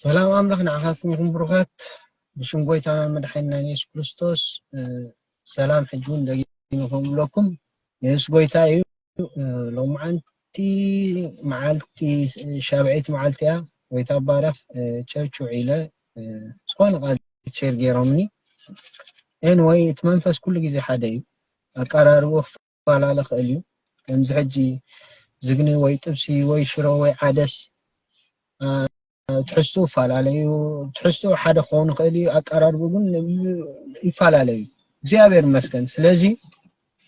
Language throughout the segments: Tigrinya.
ሰላም ኣምላኽ ንዓኻትኩም ይኹን ብሩኻት ብሽም ጎይታና መድሓኒና የሱስ ክርስቶስ ሰላም ሕጂ እውን ደጊመ ከምብለኩም የሱስ ጎይታ እዩ ሎማዓንቲ መዓልቲ ሻብዒት መዓልቲ እያ ጎይታ ባረኽ ቸርች ውዒለ ዝኾነ ቃል ቸር ገይሮምኒ ኤንወይ እቲ መንፈስ ኩሉ ግዜ ሓደ እዩ ኣቀራርቦ ክፋላለ ይክእል እዩ ከምዚ ሕጂ ዝግኒ ወይ ጥብሲ ወይ ሽሮ ወይ ዓደስ ትሕዝቱ ይፈላለ እዩ ትሕዝቱ ሓደ ክኸውን ይክእል እዩ ኣቀራርቡ ግን ይፈላለ እዩ እግዚኣብሔር ይመስገን ስለዚ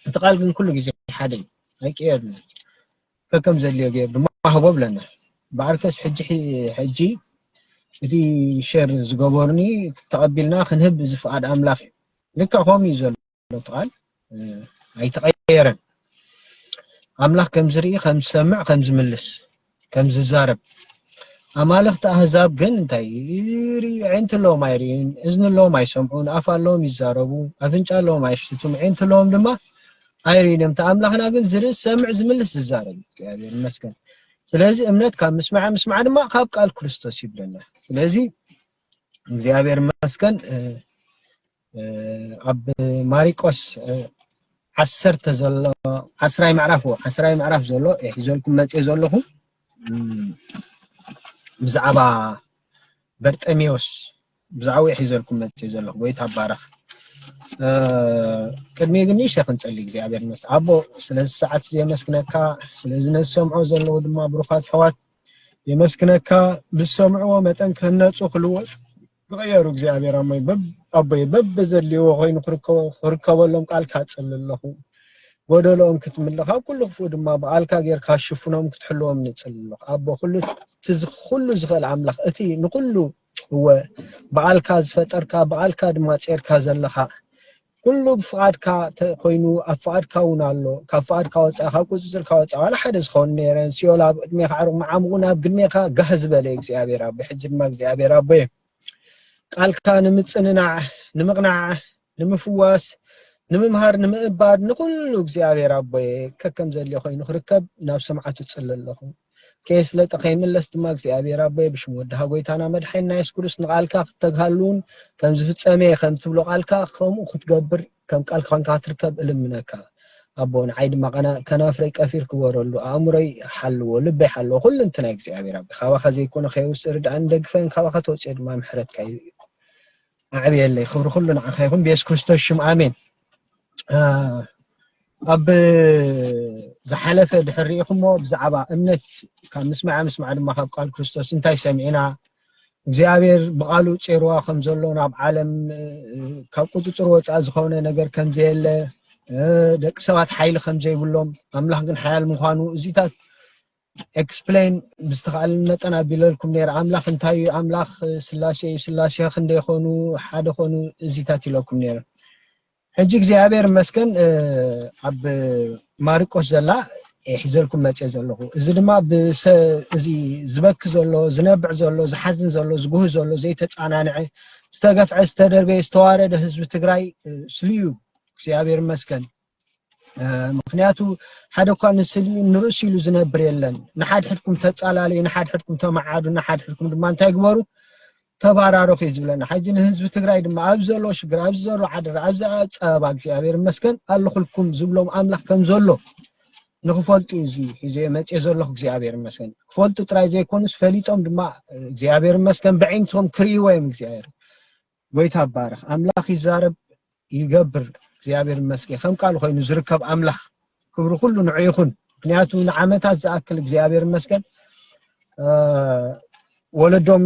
እቲ ቃል ግን ኩሉ ግዜ ሓደ እዩ ኣይቅየርን ከከም ዘድልዮ ገይር ድማ ሃቦ ብለና በዓልከስ ሕጂ ሕጂ እቲ ሸር ዝገበሩኒ ተቐቢልና ክንህብ ዝፍቃድ ኣምላኽ እዩ ልክዕ ከምኡ እዩ ዘሎ ዘሎ ቃል ኣይተቐየረን። ኣምላኽ ከም ዝርኢ፣ ከም ዝሰምዕ፣ ከም ዝምልስ፣ ከም ዝዛረብ ኣማልኽቲ ኣህዛብ ግን እንታይ ኣዒንቲ ኣለዎም ኣይርእዩን፣ እዝኒ ኣለዎም ኣይሰምዑን፣ ኣፍ ኣለዎም ይዛረቡ፣ ኣፍንጫ ኣለዎም ኣይሽትቱን፣ ኣዒንቲ ኣለዎም ድማ ኣይርእዩን እዮም። እቲ ኣምላኽና ግን ዝርኢ፣ ዝሰምዕ፣ ዝምልስ፣ ዝዛረብ እዩ። እግዚኣብሔር ይመስገን። ስለዚ እምነት ካብ ምስማዕ፣ ምስማዕ ድማ ካብ ቃል ክርስቶስ ይብለና። ስለዚ እግዚኣብሔር ይመስገን ኣብ ማሪቆስ ዓሰርተ ዘሎ ዓስራይ ምዕራፍ ዓስራይ ምዕራፍ ዘሎ ሒዘልኩም መፅየ ዘለኹ ብዛዕባ በርጠሜዎስ ብዛዕባ ሒዘልኩም መፅየ ዘለኹ ጎይታ ባረኽ ቅድሚ ግን ንእሸ ክንፀሊ እግዚኣብሔር መስ ኣቦ ስለዚ ሰዓት እዚ የመስግነካ ስለዚ ነዝሰምዖ ዘለዉ ድማ ብሩኻት ሕዋት የመስግነካ ብዝሰምዕዎ መጠን ክህነፁ ክልወጡ ይቕየሩ እግዚኣብሔር ኣሞይ ኣቦይ በብዘድልይዎ ኮይኑ ክርከበሎም ቃልካ ጽሊ ኣለኹ ጎደሎኦም ክትምልእ ካብ ኩሉ ክፉእ ድማ ብኣልካ ጌርካ ሽፍኖም ክትሕልዎም ንጽሊ ኣለኹ ኣቦ ኩሉ ዝኽእል ኣምላኽ እቲ ንኹሉ እወ ብኣልካ ዝፈጠርካ ብኣልካ ድማ ጼርካ ዘለኻ ኩሉ ብፍቓድካ ተኮይኑ ኣብ ፍቓድካ ውን ኣሎ ካብ ፍቓድካ ወጻኢ ካብ ቁጽጽርካ ወጻኢ ዋላ ሓደ ዝኸውን ነይረን ሲኦል ኣብ ቅድሜካ ዓርቁ መዓሙቁ ናብ ግድሜካ ጋህ ዝበለ እዩ እግዚኣብሔር ኣቦይ ሕጂ ድማ እግዚኣብሔር ኣቦይ ቃልካ ንምጽንናዕ ንምቕናዕ ንምፍዋስ ንምምሃር ንምእባድ ንኹሉ እግዚኣብሔር ኣቦይ ከከም ዘድልዮ ኮይኑ ክርከብ ናብ ሰማዓቱ ጽለ ኣለኹ ከየስለጠ ከይምለስ ድማ እግዚኣብሔር ኣቦየ ብሽም ወድኻ ጎይታና መድሓኒና የሱስ ክርስቶስ ንቓልካ ክትተግሃሉን ከም ዝፍጸመ ከም ትብሎ ቃልካ ከምኡ ክትገብር ከም ቃልካ ኮንካ ክትርከብ እልምነካ ኣቦ ንዓይ ድማ ቀና ከናፍረይ ቀፊር ክበረሉ ኣእምሮይ ሓልዎ ልበይ ሓልዎ ኩሉ እንትና እግዚኣብሔር ኣቦ ካባኻ ዘይኮነ ከየውስእ ርድኣን ደግፈን ካባኻ ተውፅኦ ድማ ምሕረትካ ኣዕብየለይ ክብሪ ኩሉ ንዓኻ ይኹን ብየሱስ ክርስቶስ ሽም ኣሜን ኣብ ዝሓለፈ ድሕር ርኢኹሞ ብዛዕባ እምነት ካብ ምስማዕ ምስማዕ ድማ ካብ ቃል ክርስቶስ እንታይ ሰሚዕና እግዚኣብሔር ብቓሉ ጼርዋ ከም ዘሎ ናብ ዓለም ካብ ቁፅፅር ወፃኢ ዝኾነ ነገር ከም ዘየለ ደቂ ሰባት ሓይሊ ከም ዘይብሎም ኣምላኽ ግን ሓያል ምዃኑ እዚታት ኤክስፕሌን ብዝተኻእለኒ መጠን ኣቢለልኩም ነይረ ኣምላኽ እንታይ እዩ ኣምላኽ ስላሴ እዩ ስላሴ ክንደይ ኾኑ ሓደ ኾኑ እዚታት ኢለኩም ነይረ ሕጂ እግዚኣብሔር መስገን ኣብ ማርቆስ ዘላ ሒዘልኩም መፀ ዘለኹ እዚ ድማ እዚ ዝበክ ዘሎ ዝነብዕ ዘሎ ዝሓዝን ዘሎ ዝጉህ ዘሎ ዘይተፃናንዐ ዝተገፍዐ ዝተደርበየ ዝተዋረደ ህዝቢ ትግራይ ስልዩ እግዚኣብሔር መስገን ምክንያቱ ሓደ እኳ ንስሊ ንርእሱ ኢሉ ዝነብር የለን ንሓድሕድኩም ተጻላለዩ ንሓድሕድኩም ተመዓዱ ንሓድሕድኩም ድማ እንታይ ግበሩ ተባራረኹ እዩ ዝብለና ሕጂ ንህዝቢ ትግራይ ድማ ኣብ ዘሎ ሽግር ኣብ ዘሎ ዓደራ ኣብ ጸበባ እግዚኣብሔር ይመስገን ኣለኹልኩም ዝብሎም ኣምላኽ ከም ዘሎ ንክፈልጡ እዩ እዚ ሒዘ መጽኤ ዘለኹ እግዚኣብሔር ይመስገን ክፈልጡ ጥራይ ዘይኮኑስ ፈሊጦም ድማ እግዚኣብሔር ይመስገን ብዕይንቶም ክርእይዎ እዮም እግዚኣብሔር ጎይታ ይባረኽ ኣምላኽ ይዛረብ ይገብር እግዚኣብሔር ይመስገን ከም ቃሉ ኮይኑ ዝርከብ ኣምላኽ ክብሪ ኩሉ ንዑ ይኹን ምክንያቱ ንዓመታት ዝኣክል እግዚኣብሔር ይመስገን ወለዶም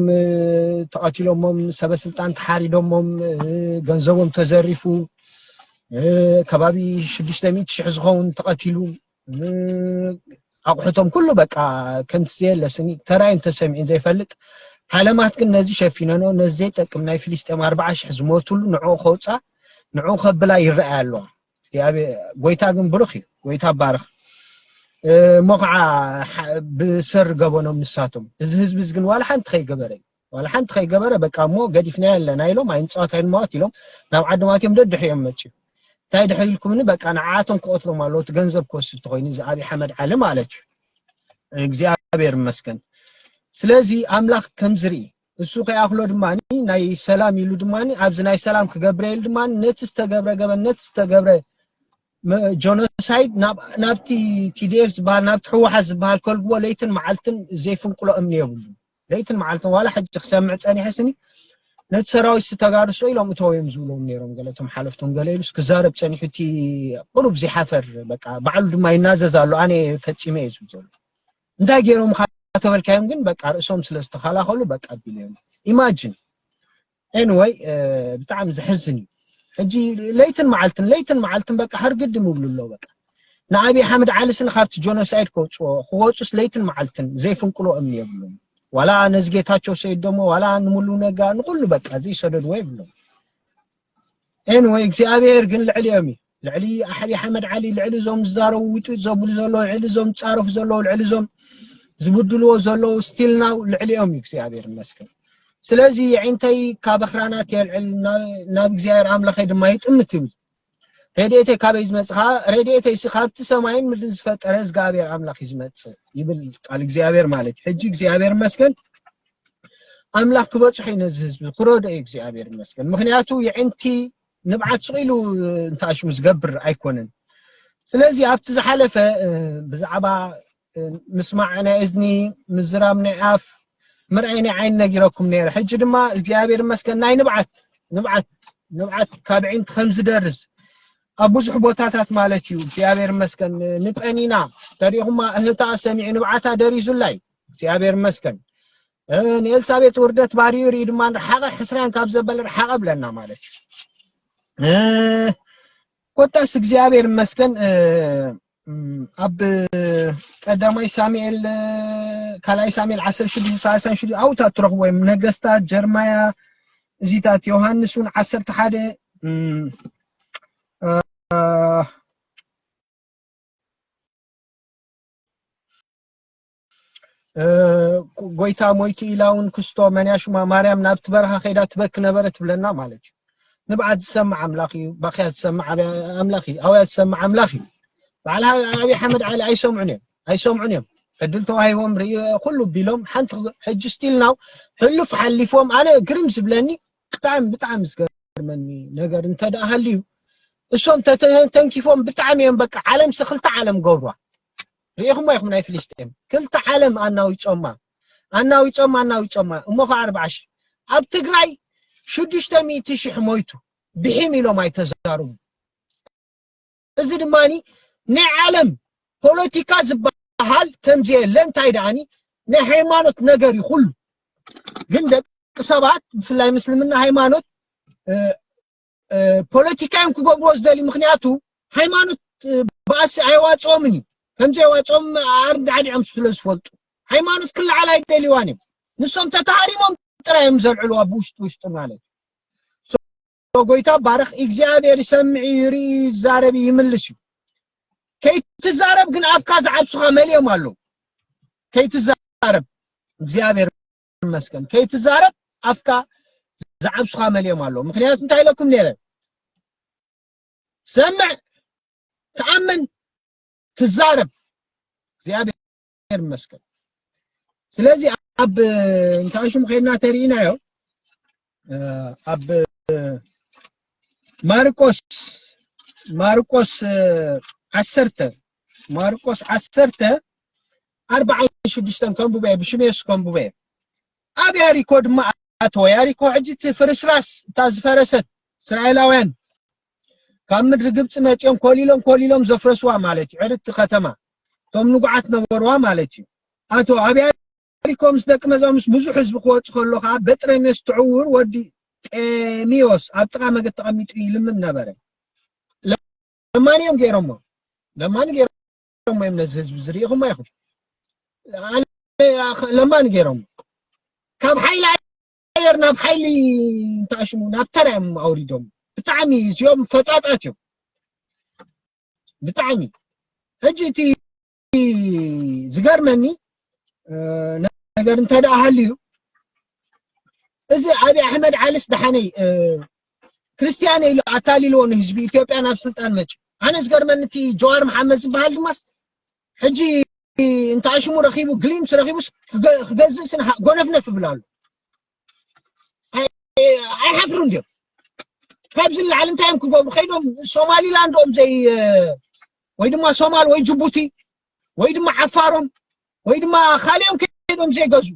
ተቐቲሎሞም ሰበስልጣን ተሓሪዶሞም ገንዘቦም ተዘሪፉ ከባቢ ሽዱሽተ ሚእቲ ሽሕ ዝኸውን ተቐቲሉ ኣቑሑቶም ኩሉ በቃ ከምቲ ዘየለ ስኒ ተራእዩን ተሰሚዑን ዘይፈልጥ ዓለማት ግን ነዚ ሸፊነኖ ነዚ ዘይጠቅም ናይ ፍልስጤም ኣርባዓ ሽሕ ዝሞትሉ ንዕኡ ከውፃ ንዕኡ ከብላ ይረኣያ ኣለዋ ጎይታ ግን ብሩኽ እዩ ጎይታ ባርኽ እሞ ከዓ ብሰር ገበኖም ንሳቶም እዚ ህዝቢ እዚ ግን ዋላ ሓንቲ ከይገበረ እዩ ዋላ ሓንቲ ከይገበረ በቃ እሞ ገዲፍናዮ ኣለና ኢሎም ኣይንፃወት ኣይንማወት ኢሎም ናብ ዓዶም ኣትዮም ደድሕሪኦም መፅኡ እንታይ ድሕሪ ኢልኩምኒ በቃ ንዓኣቶም ክቐትሎም ኣለዎ እቲ ገንዘብ ክወስድ እንተኮይኑ እዚ ኣብዪ ሓመድ ዓሊ ማለት እዩ እግዚኣብሔር ይመስገን ስለዚ ኣምላኽ ከም ዝርኢ እሱ ከይኣኽሎ ድማ ናይ ሰላም ኢሉ ድማ ኣብዚ ናይ ሰላም ክገብረ ኢሉ ድማ ነቲ ዝተገብረ ገበን ነቲ ዝተገብረ ጆኖሳይድ ናብቲ ቲዲኤፍ ዝበሃል ናብቲ ህወሓት ዝበሃል ከልግቦ ለይትን መዓልትን ዘይፍንቅሎ እምኒ የብሉ ለይትን መዓልትን ዋላ ሕጂ ክሰምዕ ጸኒሐ ስኒ ነቲ ሰራዊት ተጋድሶ ኢሎም እተው እዮም ዝብሎም ነይሮም ገለ እቶም ሓለፍቶም ገለ ኢሉስ ክዛረብ ጸኒሑ እቲ ቁሩብ ዘይሓፈር በቃ ባዕሉ ድማ ይናዘዝ ኣሎ ኣነ ፈጺመ እየ ዝብል ዘሎ እንታይ ገይሮም ተበልካዮም ግን በቃ ርእሶም ስለ ዝተኸላኸሉ በቃ ቢሎም ኢማጅን Anyway ብጣዕሚ ዘሕዝን እዩ ሕጂ ለይትን መዓልትን ለይትን መዓልትን በቃ ሕርግድም ይብሉ ኣለዉ በቃ ንኣብይ ሓምድ ዓሊ ስኒ ካብቲ ጆኖሳይድ ከውፅዎ ክወፁስ ለይትን መዓልትን ዘይፍንቅሎ እምኒ የብሎም ዋላ ነዚ ጌታቸው ሰይድ ደሞ ዋላ ንሙሉ ነጋ ንኩሉ በቃ ዘይሰደድዎ የብሎም ኤንወይ እግዚኣብሔር ግን ልዕሊኦም እዩ ልዕሊ ኣሕቢ ሓመድ ዓሊ ልዕሊ እዞም ዝዛረቡ ውጥጥ ዘብሉ ዘለዉ ልዕሊ እዞም ዝፃረፉ ዘለዉ ልዕሊ እዞም ዝብድልዎ ዘለዉ ስቲል ናው ልዕሊኦም እዩ እግዚኣብሔር ይመስገን ስለዚ የዒንተይ ካብ ኣኽራናት የልዕል ናብ እግዚኣብሔር ኣምላኸይ ድማ ይጥምት ይብል ረድኤተይ ካበይ ዝመፅእ ከዓ ረድኤተይ ሲ ካብቲ ሰማይን ምድርን ዝፈጠረ እግዚኣብሔር ኣምላኽ እዩ ዝመፅእ ይብል ቃል እግዚኣብሔር ማለት እዩ ሕጂ እግዚኣብሔር ይመስገን ኣምላኽ ክበፅሖ እዩ ነዚ ህዝቢ ክረድኦ እዩ እግዚኣብሔር ይመስገን ምክንያቱ የዒንቲ ንብዓት ስቕ ኢሉ እንተኣሽው ዝገብር ኣይኮነን። ስለዚ ኣብቲ ዝሓለፈ ብዛዕባ ምስማዕ ናይ እዝኒ፣ ምዝራብ ናይ ኣፍ፣ ምርኣይ ናይ ዓይኒ ነጊረኩም ነይረ። ሕጂ ድማ እግዚኣብሔር ይመስገን ናይ ንብዓት ንብዓት ንብዓት ካብ ኣዒንቲ ከም ዝደርዝ ኣብ ብዙሕ ቦታታት ማለት እዩ እግዚኣብሔር ይመስገን ንጰኒና ተሪእኹማ እህታ ሰሚዑ ንብዓታ ደሪዙላይ እግዚኣብሔር ይመስገን ንኤልሳቤጥ ውርደት ባርዩ ርኢ ድማ ርሓቐ ሕስራን ካብ ዘበል ርሓቐ ብለና ማለት እዩ ኮታስ እግዚኣብሔር ይመስገን ኣብ ቀዳማይ ሳሙኤል ካልኣይ ሳሙኤል ዓሰርተ ሽዱሽተ ሳልሳን ሽዱ ኣብታት ትረኽቦ እዮም ነገስታት ጀርማያ እዚታት ዮሃንስ እውን ዓሰርተ ሓደ ጎይታ ሞይቱ ኢላ እውን ክስቶ መንያ ሹማ ማርያም ናብቲ በረኻ ከይዳ ትበክ ነበረ ትብለና ማለት እዩ ንብዓት ዝሰምዕ ኣምላኽ እዩ ባክያ ዝሰምዕ ኣምላኽ እዩ ኣውያ ዝሰምዕ ኣምላኽ እዩ በዓል ኣብዪ ሓመድ ዓሊ ኣይሰምዑን እዮም ኣይሰምዑን እዮም ዕድል ተዋሂቦም ርእዮ ኩሉ ቢሎም ሓንቲ ሕጂ ስቲል ናው ሕሉፍ ሓሊፎም ኣነ ግርም ዝብለኒ ብጣዕሚ ብጣዕሚ ዝገርመኒ ነገር እንተ ደኣ ሃልዩ እሶም ተተንኪፎም ብጣዕሚ እዮም በቃ ዓለም ሲ ክልተ ዓለም ገብሯ ርኢኹሞ ኢኹም ናይ ፍልስጤም ክልተ ዓለም ኣናዊጾማ ኣናዊጾማ ኣናዊጾማ እሞ ከ ኣርብዓ ሽሕ ኣብ ትግራይ ሽዱሽተ ሚእቲ ሽሕ ሞይቱ ብሒም ኢሎም ኣይተዛርቡ እዚ ድማ ናይ ዓለም ፖለቲካ ዝበሃል ከምዘየለ እንታይ ደኣኒ ናይ ሃይማኖት ነገር እዩ ኩሉ ግን ደቂ ሰባት ብፍላይ ምስልምና ሃይማኖት ፖለቲካዮም ክገብርዎ ዝደሊ ምክንያቱ ሃይማኖት ባእሲ ኣይዋፅኦምን እዩ ከምዘይዋፅኦም ኣርዳዕዲዖም ስለ ዝፈልጡ ሃይማኖት ክለዓል ኣይደልዋን እዮም ንሶም ተታሃሪሞም ጥራይ እዮም ዘልዕልዋ ብውሽጢ ውሽጢ ማለት እዩ ጎይታ ባርኽ እግዚኣብሔር ይሰምዕ እዩ ይርኢ እዩ ይዛረብ እዩ ይምልስ እዩ ከይትዛረብ ግን ኣፍካ ዝዓብሱኻ መሊኦም ኣለዉ ከይትዛረብ እግዚኣብሔር ይመስገን ከይትዛረብ ኣፍካ ዝዓብሱኻ መሊኦም ኣለዉ ምክንያቱ እንታይ ኢለኩም ነይረ ሰምዕ ተኣምን ትዛረብ እግዚኣብሔር እግዚኣብሔር ይመስገን። ስለዚ ኣብ እንታይ ሽሙ ከይድና ተሪኢናዮ ኣብ ማርቆስ ማርቆስ ዓሰርተ ማርቆስ ዓሰርተ ኣርባዓን ሽዱሽተን ከንብበ ብሽም የሱስ ከንብበ ኣብ ያሪኮ ድማ ኣተወ ያሪኮ ሕጂ እቲ ፍርስራስ እታ ዝፈረሰት እስራኤላውያን ካብ ምድሪ ግብፂ መፂኦም ኮሊሎም ኮሊሎም ዘፍረስዋ ማለት እዩ ዕርድቲ ከተማ እቶም ንጉዓት ነበርዋ ማለት እዩ ኣቶ ኣብያ ሪኮ ምስ ደቂ መዛው ምስ ብዙሕ ህዝቢ ክወፅ ከሎ ከዓ በጥረሜዎስ ትዕውር ወዲ ጤሚዎስ ኣብ ጥቃ መገድ ተቐሚጡ ይልምን ነበረ ለማኒ እዮም ገይሮሞ ለማኒ ገይሮሞ እዮም ነዚ ህዝቢ ዝርኢኹም ኣይኹም ለማኒ ገይሮሞ ካብ ሓይሊ ኣየር ናብ ሓይሊ እንተኣሽሙ ናብ ተራ እዮም ኣውሪዶም ብጣዕሚ እዚኦም ፈጣጣት እዮም ብጣዕሚ ሕጂ እቲ ዝገርመኒ ነገር እንተ ደኣ ሃልዩ እዚ ኣብዪ ኣሕመድ ዓሊስ ደሓነይ ክርስትያን ኢሉ ኣታሊልዎ ንህዝቢ ኢትዮጵያ ናብ ስልጣን መፅኡ ኣነ ዝገርመኒ እቲ ጀዋር መሓመድ ዝበሃል ድማስ ሕጂ እንተ ኣሽሙ ረኺቡ ግሊምስ ረኺቡስ ክገዝእ ስነ ጎነፍነፍ ይብል ኣሎ ኣይሓፍሩን ድዮም ካብዚ ንላዕሊ እንታይ እዮም ክገብሩ ከይዶም ሶማሊላንድ ኦም ዘይ ወይ ድማ ሶማል ወይ ጅቡቲ ወይ ድማ ዓፋሮም ወይ ድማ ካልኦም ከይዶም ዘይገዙ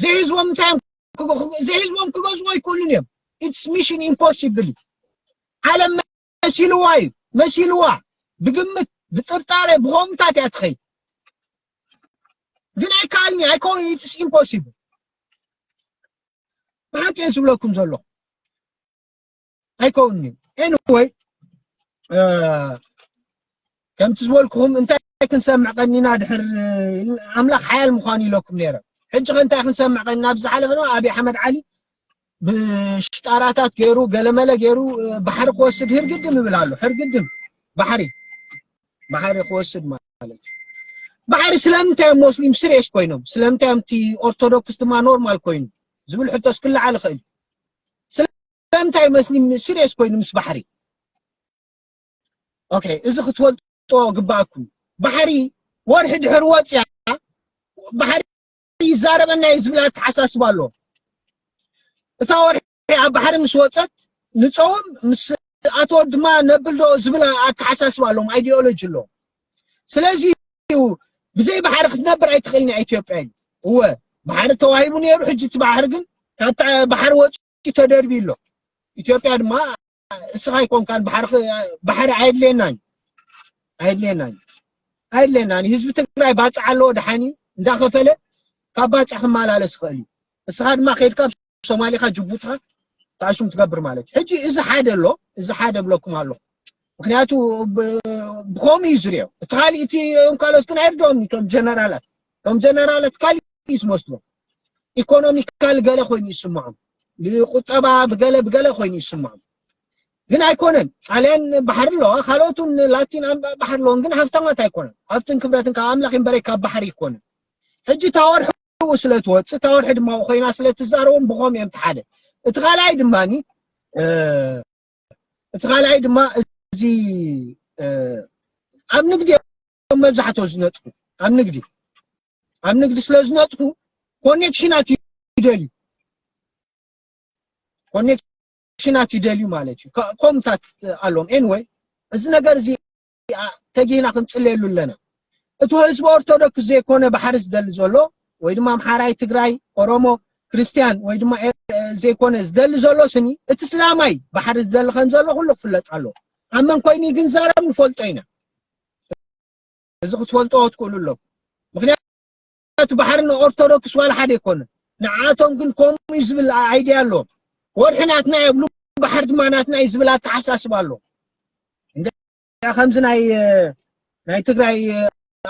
ዘይህዝቦም እንታይ እዮም ዘይህዝቦም ክገዝዎ ኣይክእሉን እዮም ኢትስ ሚሽን ኢምፖሲብል ዓለም መሲልዋ እዩ መሲልዋ ብግምት ብጥርጣረ ብኮምታት እያ ትኸይድ ግን ኣይከኣልኒ ኣይኮን ኢትስ ኢምፖሲብል ብሓቂ እየ ዝብለኩም ዘለኹ ኣይከውንን እዩ ኤኒወይ ከምቲ ዝበልኩኹም እንታይ ክንሰምዕ ቀኒና ድሕር ኣምላኽ ሓያል ምዃኑ ኢለኩም ነይረ ሕጂ ከ እንታይ ክንሰምዕ ቀኒና ኣብ ዝሓለፈ ድማ ኣብዪ ኣሕመድ ዓሊ ብሽጣራታት ገይሩ ገለመለ ገይሩ ባሕሪ ክወስድ ህርግድም ይብል ኣሎ ሕርግድም ባሕሪ ባሕሪ ክወስድ ማለት ማለት እዩ ባሕሪ ስለምንታይ እዮም ሞስሊም ስሬስ ኮይኖም ስለምንታይ እዮም እቲ ኦርቶዶክስ ድማ ኖርማል ኮይኑ ዝብል ሕቶስ ክለዓል ይኽእል እዩ ስለምንታይ መስሊም ስሬስ ኮይኑ ምስ ባሕሪ ኦኬ እዚ ክትፈልጦ ግባኣኩም ባሕሪ ወርሒ ድሕሪ ወፅያ ባሕሪ ይዛረበና እዩ ዝብል ኣተሓሳስባ ኣሎ እታ ወርሒ ኣብ ባሕሪ ምስ ወፀት ንፀውም ምስ ኣቶ ድማ ነብልዶ ዝብል ኣተሓሳስባ ኣሎም ኣይዲዮሎጂ ኣሎ ስለዚ ብዘይ ባሕሪ ክትነብር ኣይትኽእልን እያ ኢትዮጵያ እዩ እወ ባሕሪ ተዋሂቡ ነይሩ ሕጂ እቲ ባሕሪ ግን ካብቲ ባሕሪ ወፂኡ ተደርቢ ኣሎ ኢትዮጵያ ድማ እስኻ ኣይኮንካን ባሕሪ ባሕሪ ኣየድልየናን ኣየድልየናን ኣየድልየናን ህዝቢ ትግራይ ባፅዕ ኣለዎ ድሓኒ እንዳኸፈለ ካብ ባፅዕ ክመላለስ ይኽእል እዩ እስኻ ድማ ከይድካ ሶማሊኻ ጅቡትኻ ተኣሹም ትገብር ማለት እዩ ሕጂ እዚ ሓደ ኣሎ እዚ ሓደ ብለኩም ኣለኹ ምክንያቱ ብከምኡ እዩ ዝሪኦ እቲ ካልእ እቲ ካልኦት ግን ኣይርድኦም እቶም ጀነራላት ከም ጀነራለት ካልእ እዩ ዝመስሎ ኢኮኖሚካል ገለ ኮይኑ ይስምዖም ብቁጠባ ብገለ ብገለ ኮይኑ ይስምዖም ግን ኣይኮነን ጣልያን ባሕሪ ኣለዋ ካልኦቱን ላቲን ባሕሪ ኣለዎን ግን ሃብታማት ኣይኮነን ሃብትን ክብረትን ካብ ኣምላኽ እምበረ ካብ ባሕሪ ይኮነን ሕጂ ታወርሑ ስለ ትወፅእ ታወርሒ ድማ ኮይና ስለ ትዛረቦም ብኾም እዮም ትሓደ እቲ ካልኣይ ድማኒ እቲ ካልኣይ ድማ እዚ ኣብ ንግዲ እዮም መብዛሕትኦ ዝነጥፉ ኣብ ንግዲ ኣብ ንግዲ ስለ ዝነጥፉ ኮኔክሽናት ይደልዩ ኮኔክሽናት ይደልዩ ማለት እዩ ከ- ኮምታት ኣለዎም ኤንወይ እዚ ነገር እዚ ኣ- ተጊህና ክንፅለየሉ ኣለና እቲ ህዝቢ ኦርቶዶክስ ዘይኮነ ባሕሪ ዝደሊ ዘሎ ወይ ድማ ኣምሓራይ ትግራይ ኦሮሞ ክርስቲያን ወይ ድማ ኤ- ዘይኮነ ዝደሊ ዘሎ ስኒ እቲ እስላማይ ባሕሪ ዝደሊ ከም ዘሎ ኩሉ ክፍለጥ ኣለዎ ኣብ መን ኮይኑ ግን ዘረብ ንፈልጦ ኢና እዚ ክትፈልጥዎ ትክእሉ ኣለኩም ምክንያቱ ባሕሪ ንኦርቶዶክስ ዋላ ሓደ ኣይኮነን ንዓቶም ግን ከምኡ እዩ ዝብል ኣይድያ ኣለዎም ወርሒ ናትና የብሉ ባሕሪ ድማ ናትና እዩ ዝብል ኣተሓሳስባ ኣሎ ከምዚ ናይ ናይ ትግራይ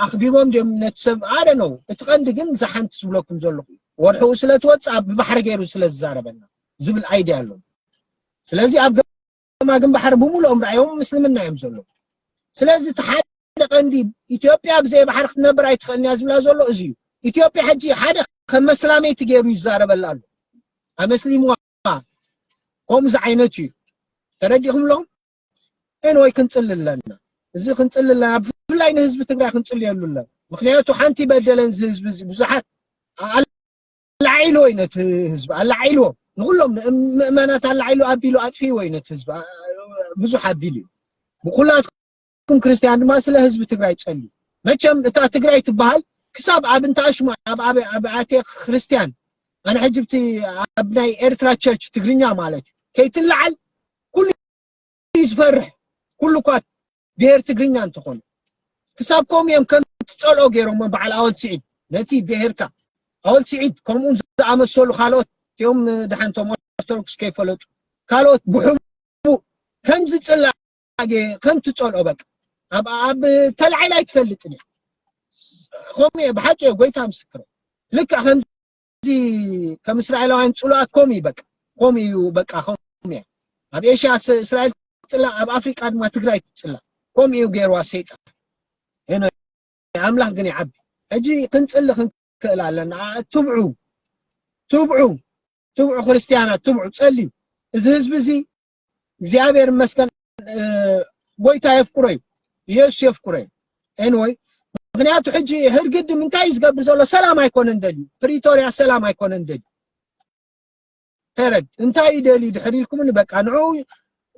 ኣኽቢቦም ድም ነቲ ሰብ ኣደ ነው እቲ ቀንዲ ግን ዝሓንቲ ዝብለኩም ዘለኹ ወርሕኡ ስለ ትወፅእ ኣብ ብባሕሪ ገይሩ ስለ ዝዛረበና ዝብል ኣይድያ ኣሎ ስለዚ ኣብ ገማግም ባሕሪ ብምሉኦም ርኣዮም ምስልምና እዮም ዘለዉ ስለዚ እቲ ሓደ ቀንዲ ኢትዮጵያ ብዘይ ባሕሪ ክትነብር ኣይትኽእልን እያ ዝብላ ዘሎ እዚ እዩ ኢትዮጵያ ሕጂ ሓደ ከም መስላመይቲ ገይሩ ይዛረበላ ኣሎ ኣመስሊምዋ ከምኡ ዝዓይነቱ እዩ ተረዲኹም ኣለኹም ኤንወይ ክንፅሊ ኣለና እዚ ክንፅሊ ኣለና ብፍላይ ንህዝቢ ትግራይ ክንፅልየሉ ኣለና ምክንያቱ ሓንቲ በደለን እዚ ህዝቢ እዚ ብዙሓት ኣላዒልዎ እዩ ነቲ ህዝቢ ኣላዒልዎ ንኩሎም ምእመናት ኣላዒሉ ኣቢሉ ኣጥፊእዎ እዩ ነቲ ህዝቢ ብዙሕ ኣቢሉ እዩ ብኩላትኩም ክርስትያን ድማ ስለ ህዝቢ ትግራይ ጸልዩ መቸም እታ ትግራይ ትበሃል ክሳብ ኣብ እንተኣሽሙ ኣብ ኣብያተ ክርስትያን ኣነ ሕጂ ብቲ ኣብ ናይ ኤርትራ ቸርች ትግርኛ ማለት እዩ ከይትለዓል ኩሉ እዩ ዝፈርሕ ኩሉ እኳ ብሄር ትግርኛ እንተኾኑ ክሳብ ከምኡ እዮም ከም ትጸልኦ ገይሮሞ በዓል ኣወል ስዒድ ነቲ ብሄርካ ኣወል ስዒድ ከምኡ ዝኣመሰሉ ካልኦት እቲኦም ድሓንቶም ኦርቶዶክስ ከይፈለጡ ካልኦት ብሕቡእ ከም ዝጽላእ ከም ትጸልኦ በቃ ኣብ ኣብ ተላዒላ ኣይትፈልጥን እያ ከምኡ እየ ብሓቂ እየ ጎይታ ምስክር ልክዕ ከም እዚ ከም እስራኤላውያን ጽሉኣት ከምኡ እዩ በቃ ከምኡ እዩ በቃ ከምኡ እያ ኣብ ኤሽያ እስራኤል ትጽላእ ኣብ ኣፍሪቃ ድማ ትግራይ ትጽላእ ከምኡ እዩ ገይርዋ ሰይጣን እነ ኣምላኽ ግን ይዓቢ ሕጂ ክንጽሊ ክንክእል ኣለና ትብዑ ትብዑ ትብዑ ክርስትያናት ትብዑ ጸልዩ እዚ ህዝቢ እዚ እግዚኣብሔር ይመስገን ጎይታ የፍቅሮ እዩ ኢየሱስ የፍቅሮ እዩ ኤንወይ ምክንያቱ ሕጂ ህርግድ ምንታይ ዝገብር ዘሎ ሰላም ኣይኮነን ደልዩ ፕሪቶሪያ ሰላም ኣይኮነን ደልዩ ተረድ እንታይ እዩ ደልዩ ድሕር ኢልኩምኒ በቃ ንዑ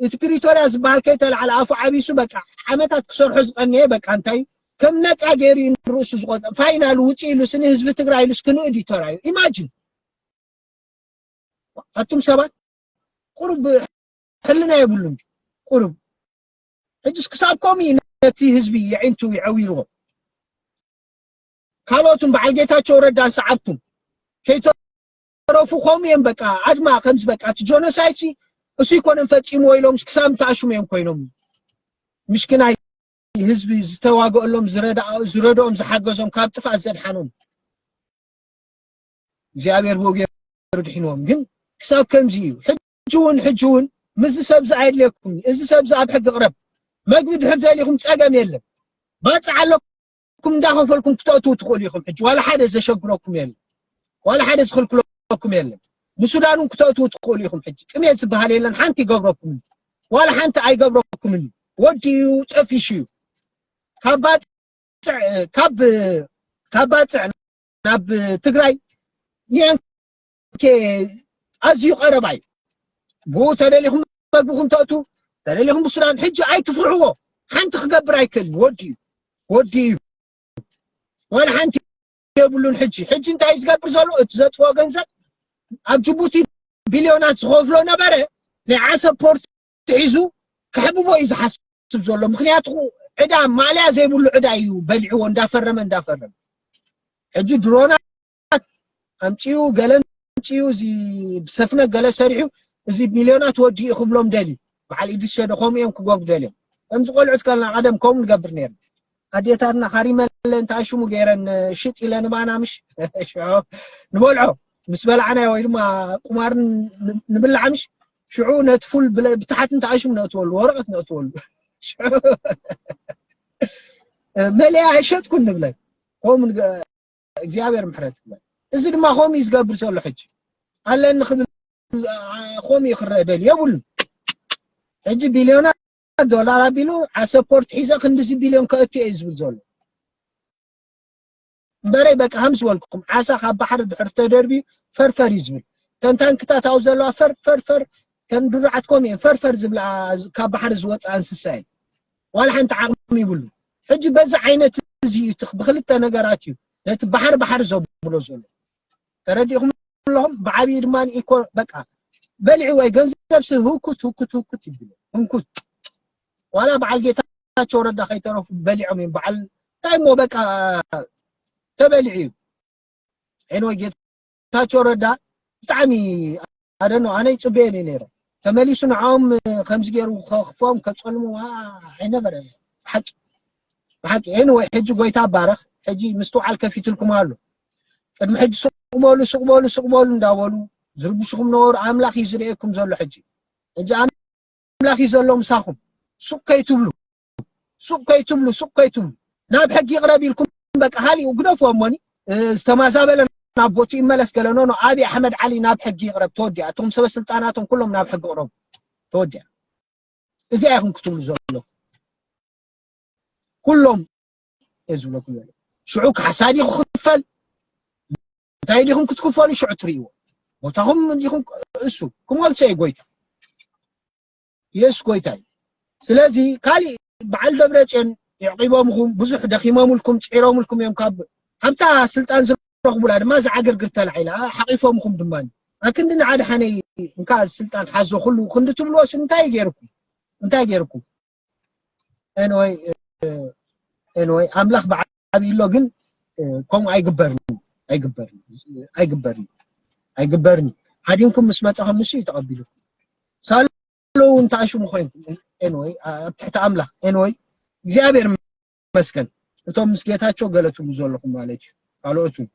እቲ ፕሪቶሪያ ዝበሃል ከይተላዓለ ኣፉ ዓቢሱ በቃ ዓመታት ክሰርሖ ዝቐነየ በቃ እንታይ ከም ነፃ ገይሩ እዩ ንርእሱ ዝቆፀ ፋይናል ውጪ ኢሉ ስኒ ህዝቢ ትግራይ ኢሉስ ክንእድ እዩ ተራዩ ኢማጂን ኣቱም ሰባት ቁሩብ ሕልና የብሉን ቁሩብ ሕጅስ ክሳብ ከምኡ እዩ ነቲ ህዝቢ የዒንቱ ይዐዊርዎ ካልኦትን በዓል ጌታቸው ረዳን ሰዓብቱን ከይተረፉ ከምኡ እዮም በቃ ኣድማ ከምዚ በቃ እቲ ጆኖሳይድ ሲ እሱ ይኮነን ፈፂምዎ ኢሎም ክሳብ እንተኣሽሙ እዮም ኮይኖም ምሽክናይ ህዝቢ ዝተዋገእሎም ዝረድኦም ዝሓገዞም ካብ ጥፍኣት ዘድሓኖም እግዚኣብሔር ብኡ ገይሩ ድሒንዎም ግን ክሳብ ከምዚ እዩ ሕጂ እውን ሕጂ እውን ምስዚ ሰብዚ ኣየድልየኩም እዚ ሰብዚ ኣብ ሕጊ ቅረብ መግቢ ድሕር ደሊኹም ፀገም የለን ባፅዕ ኣለኩም እንዳኸፈልኩም ክተእትዉ ትኽእሉ ኢኹም ሕጂ ዋላ ሓደ ዘሸግረኩም የለን ዋላ ሓደ ዝኽልክለኩም የለን ንሱዳን እውን ክተእትዉ ትኽእሉ ኢኹም ሕጂ ጥሜት ዝበሃል የለን ሓንቲ ይገብረኩም ዋላ ሓንቲ ኣይገብረኩምን ወዲ እዩ ጠፊሹ እዩ ካብ ባፅዕ ካብ ካብ ባፅዕ ናብ ትግራይ ኒያንኬ ኣዝዩ ቀረባ እዩ ብኡ ተደሊኹም መግብኹም ተእቱ ተደሊኹም ብሱዳን ሕጂ ኣይትፍርሕዎ ሓንቲ ክገብር ኣይክእልን ወዲ እዩ ወዲ እዩ ዋላ ሓንቲ የብሉን ሕጂ ሕጂ እንታይ ዝገብር ዘሎ እቲ ዘጥፍኦ ገንዘብ ኣብ ጅቡቲ ቢልዮናት ዝኸፍሎ ነበረ ናይ ዓሰብ ፖርት ሒዙ ክሕብቦ እዩ ዝሓስብ ዘሎ ምክንያቱ ዕዳ ማልያ ዘይብሉ ዕዳ እዩ በሊዕዎ እንዳፈረመ እንዳፈረመ ሕጂ ድሮናት ኣምፅኡ ገለ ኣምፅኡ እዚ ብሰፍነ ገለ ሰሪሑ እዚ ሚልዮናት ወዲ እዩ ክብሎም ደልዩ በዓል ኢድሪስ ሸዶ ከምኡ እዮም ክገብሩ ደልዮም ከምዚ ቆልዑት ከለና ቀደም ከምኡ ንገብር ነርና ኣዴታትና ሃሪመለ እንታይ ሽሙ ገይረን ሽጥ ኢለ ንባና ምሽ ሽዑ ንበልዖ ምስ በላዕናዮ ወይ ድማ ቁማር ንብላዕ ምሽ ሽዑ ነቲ ፉል ብታሕቲ እንታይ ሽሙ ነእትወሉ ወረቐት ነእትወሉ ሽዑ መለያ ኣይሸጥኩን ንብለን ከምኡ እግዚኣብሔር ምሕረት ይብለን እዚ ድማ ከምኡ እዩ ዝገብር ዘሎ ሕጂ ኣለኒ ክብል ከምኡ ይኽረደል የብሉን ሕጂ ቢልዮናት ዶላር ኣቢሉ ዓሰፖርት ሒዘ ክንዲዚ ቢልዮን ከእቱ እየ ዝብል ዘሎ እምበረይ በቃ ከም ዝበልኩኩም ዓሳ ካብ ባሕሪ ድሕር ተደርብዩ ፈርፈር እዩ ዝብል ተን ታንክታት ኣብኡ ዘለዋ ፈርፈርፈር ተን ድሩዓት ከምኡ እየን ፈርፈር ዝብላ ካብ ባሕሪ ዝወፅ እንስሳ እየን ዋላ ሓንቲ ዓቕሚ ይብሉ ሕጂ በዚ ዓይነት እዚ እዩ ብክልተ ነገራት እዩ ነቲ ባሕሪ ባሕሪ ዘብሎ ዘሎ ተረዲእኹም ኣለኹም ብዓብዪ ድማ ኢኮ በቃ በልዒ ወይ ገንዘብ ሲ ህውኩት ህውኩት ህውኩት ይብሉ ህንኩት ዋላ በዓል ጌታቸው ረዳ ከይተረፉ በሊዖም እዮም በዓል እንታይ እሞ በቃ ተበሊዑ እዩ ኤንወይ ጌታቸው ረዳ ብጣዕሚ ኣደኖ ኣነ ይጽበየን እዩ ነይረ ተመሊሱ ንዓኦም ከምዚ ገይሩ ከኽፎም ከጸልሙ ኣይነበረ ብሓቂ ብሓቂ ኤኒ ወይ ሕጂ ጎይታ ባረኽ ሕጂ ምስትውዓል ከፊትልኩም ኣሎ ቅድሚ ሕጂ ሱቕ በሉ ሱቕ በሉ ሱቕ በሉ እንዳበሉ ዝርብሽኹም ነበሩ ኣምላኽ እዩ ዝርእየኩም ዘሎ ሕጂ ሕጂ ኣምላኽ እዩ ዘሎ ምሳኹም ሱቕ ከይትብሉ ሱቅ ከይትብሉ ሱቅ ከይትብሉ ናብ ሕጊ ይቅረብ ኢልኩም በቃ ሃሊኡ ግደፍዎ እሞኒ ዝተማዛበለ ናብ ቦቱ ይመለስ ገለ ኖኖ ኣብይ ኣሕመድ ዓሊ ናብ ሕጊ ይቅረብ ተወዲያ እቶም ሰበ ስልጣናቶም ኩሎም ናብ ሕጊ ቅረቡ ተወዲያ እዚኣ ይኹም ክትብሉ ዘሎ ኩሎም ዝብለኩም ዘሎ ሽዑ ካሕሳ ዲኹ ክፈል እንታይ ዲኹም ክትክፈሉ ሽዑ ትርእይዎ ቦታኹም ዲኹም እሱ ክመልሶ እዩ ጎይታ የሱስ ጎይታ እዩ ስለዚ ካሊእ በዓል ደብረፅዮን የዕቂቦምኹም ብዙሕ ደኺሞምልኩም ፅዒሮምልኩም እዮም ካብ ሃብታ ስልጣን ዝረኽቡላ ድማ እዛ ዓግርግር ተላዒላ ሓቂፎምኹም ድማ ኣክንዲ ንዓድሓነይ እንካ ስልጣን ሓዞ ኩሉ ክንዲ ትብልዎስ እንታይ ገይርኩም እንታይ ገይርኩም ኤንወይ ኤንወይ ኣምላኽ በዓል ተዓብዩሎ ግን ከምኡ ኣይግበርን ኣይግበርን ኣይግበርን ኣይግበርን ሃዲምኩም ምስ መፀኸም ንሱ እዩ ተቐቢልኩም ሳሎ እውን ተኣሽሙ ኮይንኩም ኤንወይ ኣብ ትሕቲ ኣምላኽ ኤንወይ እግዚኣብሔር ይመስገን እቶም ምስ ጌታቸው ገለትሉ ዘለኹም ማለት እዩ ካልኦት እውን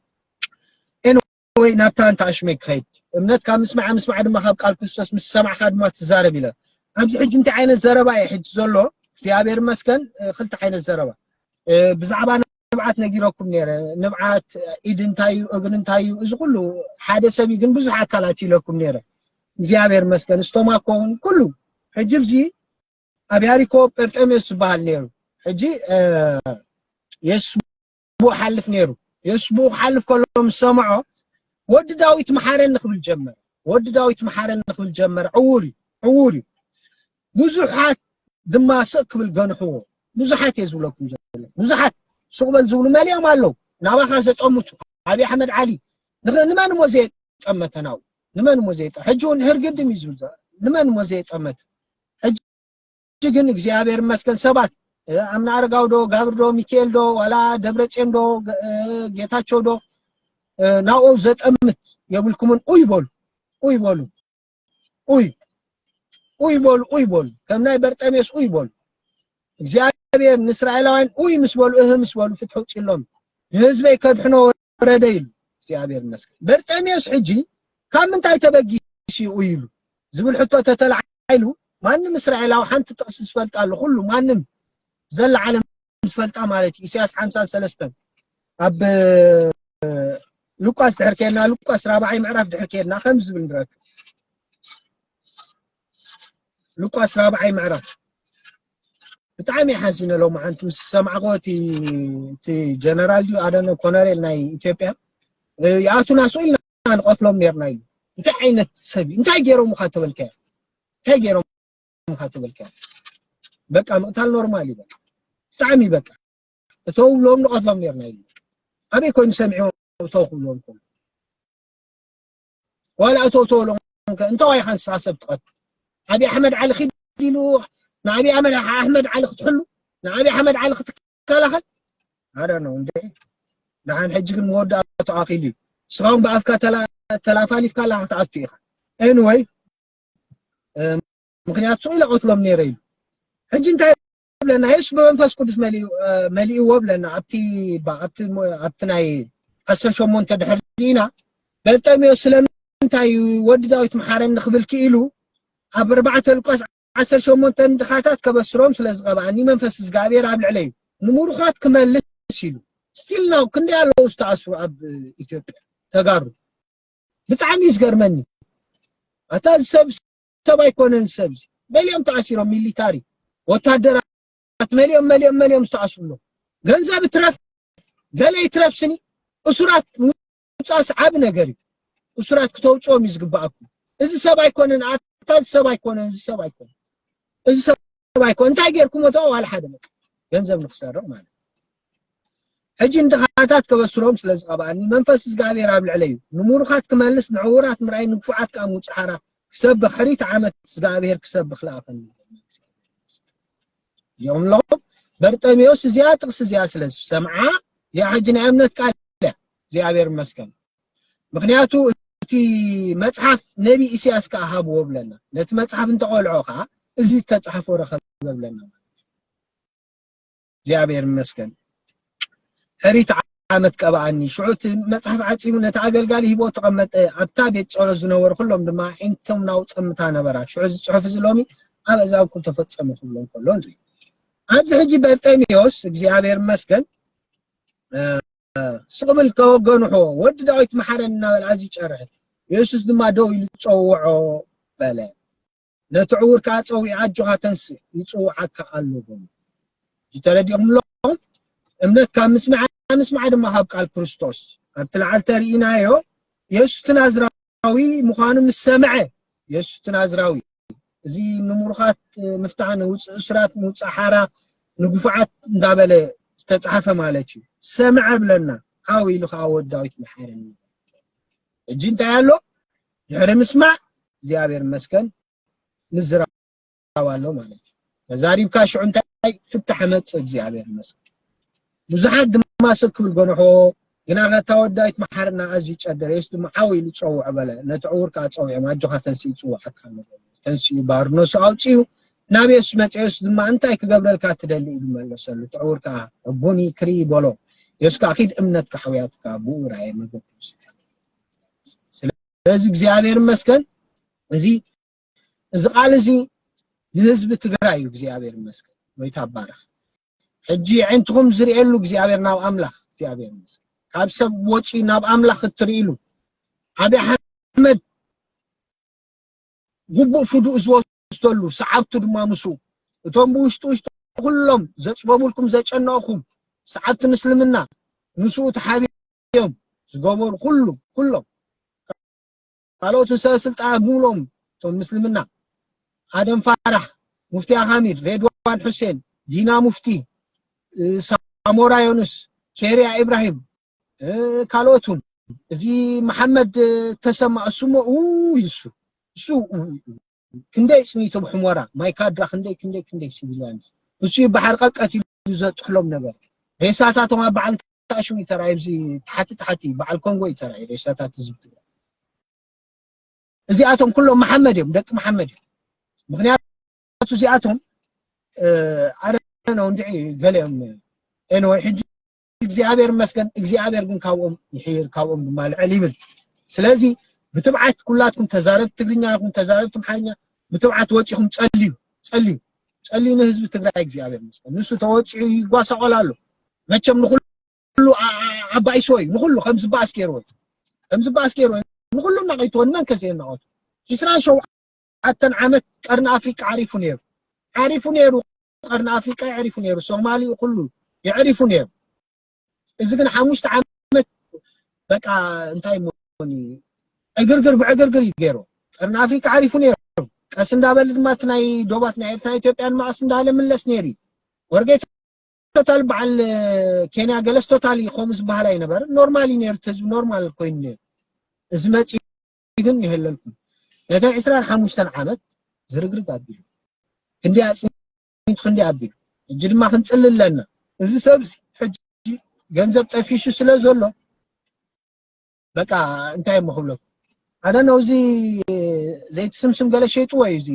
ወይ ናብታ እንተ ኣሽመይ ክኸይድ እምነትካ ምስማዓ ምስማዓ ድማ ካብ ቃል ክርስቶስ ምስ ሰማዕካ ድማ ትዛረብ ኢለ ኣብዚ ሕጂ እንታይ ዓይነት ዘረባ እዩ ሕጂ ዘሎ እግዚኣብሔር ይመስገን ክልተ ዓይነት ዘረባ ብዛዕባ ንብዓት ነጊረኩም ነይረ ንብዓት ኢድ እንታይ እዩ እግሪ እንታይ እዩ እዚ ኩሉ ሓደ ሰብ ግን ብዙሕ ኣካላት ኢለኩም ነይረ እግዚኣብሔር ይመስገን ስቶማኮ እውን ኩሉ ሕጂ ብዚ ኣብ ያሪኮ ጴርጠሜዎስ ዝበሃል ነይሩ ሕጂ የሱስ ብኡ ሓልፍ ነይሩ የሱስ ብኡ ክሓልፍ ከሎ ምስ ሰምዖ ወዲ ዳዊት መሓረኒ ክብል ጀመረ ወዲ ዳዊት መሓረኒ ክብል ጀመረ ዕውር እዩ ዕውር እዩ ብዙሓት ድማ ስቕ ክብል ገንሕዎ ብዙሓት እየ ዝብለኩም ዘሎ ብዙሓት ስቕ በል ዝብሉ መሊኦም ኣለዉ ናባኻ ዘጠምቱ ኣብዪ ኣሕመድ ዓሊ ንመን እሞ ዘየጠመተና ው ንመን እሞ ዘየጠ ሕጂ እውን ህርግድም እዩ ዝብል ንመን እሞ ዘየጠመተ ሕጂ ሕጂ ግን እግዚኣብሔር ይመስገን ሰባት ኣምና ኣረጋው ዶ ጋብር ዶ ሚካኤል ዶ ዋላ ደብረፅዮን ዶ ጌታቸው ዶ ናብኡ ዘጠምት የብልኩምን ኡይ በሉ ኡይ በሉ ኡይ ኡይ በሉ ኡይ በሉ ከም ናይ በርጠሜስ ኡይ በሉ እግዚኣብሔር ንእስራኤላውያን ኡይ ምስ በሉ እህ ምስ በሉ ፍትሒ ውፅሎም ንህዝበይ ከድሕኖ ወረደ ኢሉ እግዚኣብሔር ይመስገን በርጠሜዎስ ሕጂ ካብ ምንታይ ተበጊሱ እዩ ኢሉ ዝብል ሕቶ ተተላዓሉ ማንም እስራኤላዊ ሓንቲ ጥቅሲ ዝፈልጣ ኣሎ ኩሉ ማንም ዘላ ዓለም ዝፈልጣ ማለት እዩ ኢሳያስ ሓምሳን ሰለስተን ኣብ ሉቃስ ድሕር ከድና ሉቃስ ራብዓይ ምዕራፍ ድሕር ከድና ከም ዝብል ንረክብ ሉቃስ ራብዓይ ምዕራፍ ብጣዕሚ ሓዚነ ሎማዓንቲ ምስ ሰማዕክዎ እቲ እቲ ጀነራል ድዩ ኣደነ ኮነሬል ናይ ኢትዮጵያ ይኣቱና ስኡ ኢልና ንቐትሎም ነርና እዩ እንታይ ዓይነት ሰብ እዩ እንታይ ገይሮምኻ ተበልካዮ እንታይ ገይሮምኻ ተበልካዮ በቃ ምቕታል ኖርማል እዩ በቃ ብጣዕሚ በቃ እተው ብሎም ንቐትሎም ነርና እዩ ኣበይ ኮይኑ ሰሚዕዎም እተው ክብልዎም ከሎ ዋላ እቶ ተወሎ እንተዋይ ኻን ሳሰብ ትቐት ኣቢ ኣሕመድ ዓሊ ኺድ ኢሉ ንኣቢ ኣሕመድ ኣሕመድ ዓሊ ክትሕሉ ንኣቢ ኣሕመድ ዓሊ ክትከላኸል ኣረ ነው እንዴ ንሓን ሕጂ ግን መወዳእቱ ኣኺሉ እዩ ስራውን በኣፍካ ተላፋሊፍካ ኣላ ክትኣቱ ኢኻ ኤንወይ ምክንያቱ ኢለ ቀትሎም ነይረ ኢሉ ሕጂ እንታይ ብለና የሱ ብመንፈስ ቅዱስ መሊእዎ ብለና ኣብቲ ኣብቲ ናይ ዓሰርተ ሸሞንተ ድሕሪ ኢና በርጠሚዎስ ስለምንታይ እዩ ወዲ ዳዊት መሓረኒ ክብል ክኢሉ ኣብ ኣርባዕተ ሉቃስ ዓሰርተ ሸሞንተ ድኻታት ከበስሮም ስለ ዝቐብኣኒ መንፈስ እግዚኣብሔር ኣብ ልዕለይ ንምሩኻት ክመልስ ኢሉ ስቲል ናው ክንደይ ኣለዉ ዝተኣስሩ ኣብ ኢትዮጵያ ተጋሩ ብጣዕሚ እዩ ዝገርመኒ ኣታ እዚ ሰብ ሰብ ኣይኮነን ሰብ መሊኦም ተኣሲሮም ሚሊታሪ ወታደራት መሊኦም መሊኦም መሊኦም ዝተኣስሩ ኣለዉ ገንዘብ ይትረፍ ገለ ይትረፍ ስኒ እሱራት ምውፃእስ ዓብ ነገር እዩ እሱራት ክተውፅኦም እዩ ዝግባኣኩም እዚ ሰብ ኣይኮነን ኣታ እዚ ሰብ ኣይኮነን እዚ ሰብ ኣይኮነን እዚ ሰብ ኣይኮ እንታይ ጌርኩሞ እቶ ዋላ ሓደ በቃ ገንዘብ ንክሰርቕ ማለት ሕጂ ንድኻታት ከበስሮም ስለ ዝቐብኣኒ መንፈስ እግዚኣብሔር ኣብ ልዕለይ እዩ ንምሩኻት ክመልስ ንዕውራት ምርኣይ ንግፉዓት ከዓ ምውፅእ ሓራ ክሰብኽ ሕሪት ዓመት እግዚኣብሔር ክሰብኽ ለኣኸኒ እዮም ኣለኹ በርጠሜዎስ እዚኣ ጥቕሲ እዚኣ ስለ ዝሰምዓ እዚኣ ሕጂ ናይ እምነት ቃል እያ እግዚኣብሔር ይመስገን ምክንያቱ እቲ መጽሓፍ ነቢ ኢሳያስ ከዓ ሃብዎ ብለና ነቲ መጽሓፍ እንተቆልዖ ከዓ እዚ ዝተጻሕፎ ረኸበ ብለና እግዚኣብሔር ይመስገን ሕሪት ዓመት ቀባኣኒ ሽዑ እቲ መጽሓፍ ዓጺሙ ነቲ ኣገልጋሊ ሂቦ ተቐመጠ ኣብታ ቤት ጸሎት ዝነበሩ ኩሎም ድማ ዓይነቶም ናው ጸምታ ነበራ ሽዑ እዚ ጽሑፍ እዚ ሎሚ ኣብ እዛብኩም ተፈጸሙ ክብሎ ከሎ ንርኢ ኣብዚ ሕጂ በርጤሜዎስ እግዚኣብሔር ይመስገን ስቕ ብል ከወገንሖ ወዲ ዳዊት መሓረኒ እናበለ ኣዝዩ ጨርሐ። የሱስ ድማ ደው ኢሉ ጸውዖ በለ። ነቲ ዕዉር ከኣ ጸዊዑ ኣጆኻ ተንስእ፣ ይጽውዓካ ኣሎ በሉ። እዚ ተረዲእኩም ኣለኹም? እምነት ካብ ምስማዕ፣ ምስማዕ ድማ ካብ ቃል ክርስቶስ። ኣብቲ ላዕሊ ተርኢናዮ የሱስ እቲ ናዝራዊ ናዝራዊ ምዃኑ ምስ ሰምዐ፣ የሱስ እቲ ናዝራዊ እዚ ንምሩኻት ምፍታሕ፣ ንውጹእ እሱራት ምውጻእ ሓራ፣ ንግፉዓት እንዳ በለ ዝተጻሕፈ ማለት እዩ፣ ሰምዐ ብለና፣ ዓው ኢሉ ኸኣ ወዲ ዳዊት መሓረኒ በለ። ሕጂ እንታይ ኣሎ? ድሕሪ ምስማዕ እግዚኣብሔር ይመስገን ንዝራ ሓሳብ ኣሎ ማለት እዩ ተዛሪብካ ሽዑ እንታይ ፍታሕ መጽእ እግዚኣብሔር ይመስገን ብዙሓት ድማ ስብ ክብል ጎንሖ ግና ከታ ወዳይት መሓርና ኣዝዩ ጨደረ የስ ድማ ዓው ኢሉ ጸውዖ በለ ነቲ ዕውር ከዓ ጸዊዖም ኣጆኻ ተንስኢ ይጽውዓካ ኣሎ ተንስኡ ባርነሱ ኣውፅኡ ናብ የሱ መፀ የሱ ድማ እንታይ ክገብረልካ ትደሊ ኢሉ መለሰሉ እቲ ዕውር ከዓ ዕቡኒ ክሪ በሎ የሱ ከዓ ኪድ እምነትካ ሕውያትካ ብኡ ራእየ መገዱ ስለዚ እግዚኣብሔር ይመስገን እዚ እዚ ቃል እዚ ንህዝቢ ትግራይ እዩ እግዚኣብሔር ይመስገን ወይታ ባረኽ ሕጂ የዒንትኹም ዝርእየሉ እግዚኣብሔር ናብ ኣምላኽ እግዚኣብሔር ይመስገን ካብ ሰብ ወፂ ናብ ኣምላኽ እትርእሉ ኣብይ ኣሕመድ ግቡእ ፍዱእ ዝወስደሉ ሰዓብቱ ድማ ምስ እቶም ብውሽጢ ውሽጢ ኩሎም ዘፅበቡልኩም ዘጨነቕኹም ሰዓብቲ ምስልምና ምስኡ ተሓቢኦም ዝገበሩ ኩሉ ኩሎም ካልኦትን ሰብ ስልጣን ምብሎም እቶም ምስልምና ኣደም ፋራሕ ሙፍቲ ኣኻሚድ ሬድዋን ሑሴን ዲና ሙፍቲ ሳሞራ ዮኑስ ኬርያ ኢብራሂም ካልኦትን እዚ መሓመድ ተሰማ እሱሞ እሱ እሱ ክንደይ ጽኒት ኣብ ሕሞራ ማይካድራ ክንደይ ክንደይ ክንደይ ሲቪልያንስ እሱ ይበሓር ቀቀት ኢሉ ዘጥሕሎም ነበር ሬሳታቶም ኣብ በዓል ታሹ እዩ ተራእዩ ኣብዚ ታሕቲ ታሕቲ በዓል ኮንጎ እዩ ተራእዩ ሬሳታት ህዝቢ ትግራይ እዚኣቶም ኩሎም መሓመድ እዮም ደቂ መሓመድ እዮም ምክንያቱ እዚኣቶም ኣነ ነው እንድዒ ገለ እዮም ኤንወይ ሕጂ እግዚኣብሔር ይመስገን እግዚኣብሔር ግን ካብኦም ይሕይር ካብኦም ድማ ልዕል ይብል ስለዚ ብትብዓት ኩላትኩም ተዛረብቲ ትግርኛ ይኹን ተዛረብቲ ኣምሓርኛ ብትብዓት ወፂኹም ጸልዩ ጸልዩ ጸልዩ ንህዝቢ ትግራይ እግዚኣብሔር ይመስገን ንሱ ተወፂዑ ይጓሳቆል ኣሎ መቸም ንኩሉ ዓባይሶ እዩ ንኩሉ ከም ዝበኣስ ገይርዎ እዩ ከም ዝበኣስ ገይርዎ እዩ ንኩሉ እናቐይትዎ ንመን ከ ዘየናቐቱ ዒስራን ሸውዓተን ዓመት ቀርኒ ኣፍሪቃ ዓሪፉ ነይሩ ዓሪፉ ነይሩ ቀርኒ ኣፍሪቃ የዕሪፉ ነይሩ፣ ሶማሊኡ ኩሉ የዕሪፉ ነይሩ። እዚ ግን ሓሙሽተ ዓመት በቃ እንታይ ሞኒ ዕግርግር ብዕግርግር እዩ ገይሩ። ቀርኒ ኣፍሪቃ ዓሪፉ ነይሩ። ቀስ እንዳበለ ድማ እቲ ናይ ዶባት ናይ ኤርትራ ኢትዮጵያን ማእስ እንዳለ ምለስ ነይሩ እዩ። ወርጌ ቶታል በዓል ኬንያ ገለስ ቶታል እዩ ከምኡ ዝበሃል ኣይነበረን። ኖርማል እዩ ነይሩ፣ እቲ ህዝቢ ኖርማል ኮይኑ ነይሩ። እዚ መፂ ግን የህለልኩም ነታ ዕስራን ሓሙሽተን ዓመት ዝርግርግ ኣቢሉ ክንዲ ኣጽኒቱ ክንዲ ኣቢሉ ሕጂ ድማ ክንጽሊ ኣለና እዚ ሰብ ሕጂ ገንዘብ ጠፊሹ ስለ ዘሎ በቃ እንታይ እሞ ክብለኩም ኣነ ነው እዚ ዘይትስምስም ገለ ሸይጥዎ እዩ እዚ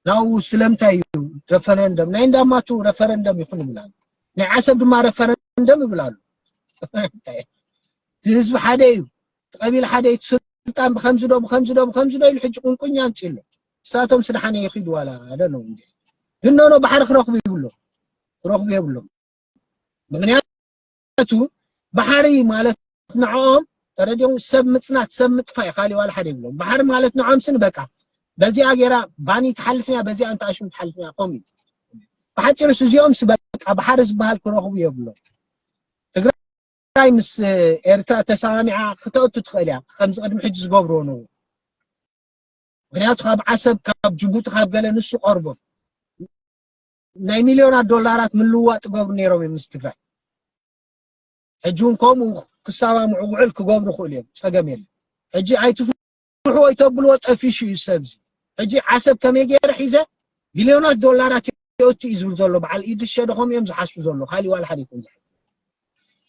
ናው ስለምንታይ እዩ ረፈረንደም ናይ እንዳማቱ ረፈረንደም ይኹን ይብላሉ ናይ ዓሰብ ድማ ረፈረንደም ይብላሉ ህዝቢ ሓደ እዩ ቀቢል ሓደ እዩ እቲ ስልጣን ብከምዚ ዶ ብከምዚ ዶ ብከምዚ ዶ ኢሉ ሕጂ ቁንቁኝ ኣምጺኡ ኣሎ ንሳቶም ስድሓነ ይኺዱ ዋላ ኣይ ዶንት ኖው እንዴ ግን ኖኖ ባሕሪ ክረኽቡ ይብሎም ክረኽቡ የብሎም ምክንያቱ ባሕሪ ማለት ንዕኦም ተረዲኦም ሰብ ምጽናት ሰብ ምጥፋእ እዩ ካሊእ ዋላ ሓደ ይብሎም ባሕሪ ማለት ንዕኦም ስኒ በቃ በዚኣ ገይራ ባኒ ትሓልፍንያ በዚኣ እንተኣሽም ትሓልፍንያ ከምኡ እዩ ብሓፂሩስ እዚኦምስ በቃ ባሕሪ ዝበሃል ክረኽቡ የብሎም ትግራይ ትግራይ ምስ ኤርትራ ተሰማሚዓ ክተእቱ ትኽእል እያ ከምዚ ቅድሚ ሕጂ ዝገብርዎ ነው ምክንያቱ ካብ ዓሰብ ካብ ጅቡቲ ካብ ገለ ንሱ ቀርቦ ናይ ሚልዮናት ዶላራት ምልውዋጥ ይገብሩ ነይሮም እዮም ምስ ትግራይ ሕጂ እውን ከምኡ ክሰማምዑ ውዕል ክገብሩ ይኽእሉ እዮም ፀገም የለን ሕጂ ኣይትፍ ስርሑ ወይ ተብልዎ ጠፊሹ እዩ ሰብዚ ሕጂ ዓሰብ ከመይ ገይረ ሒዘ ቢልዮናት ዶላራት የእቱ እዩ ዝብል ዘሎ በዓል ኢድሪስ ሸደኾም እዮም ዝሓስቡ ዘሎ ካሊእ ዋላ ሓደ ይኹን ዝሓ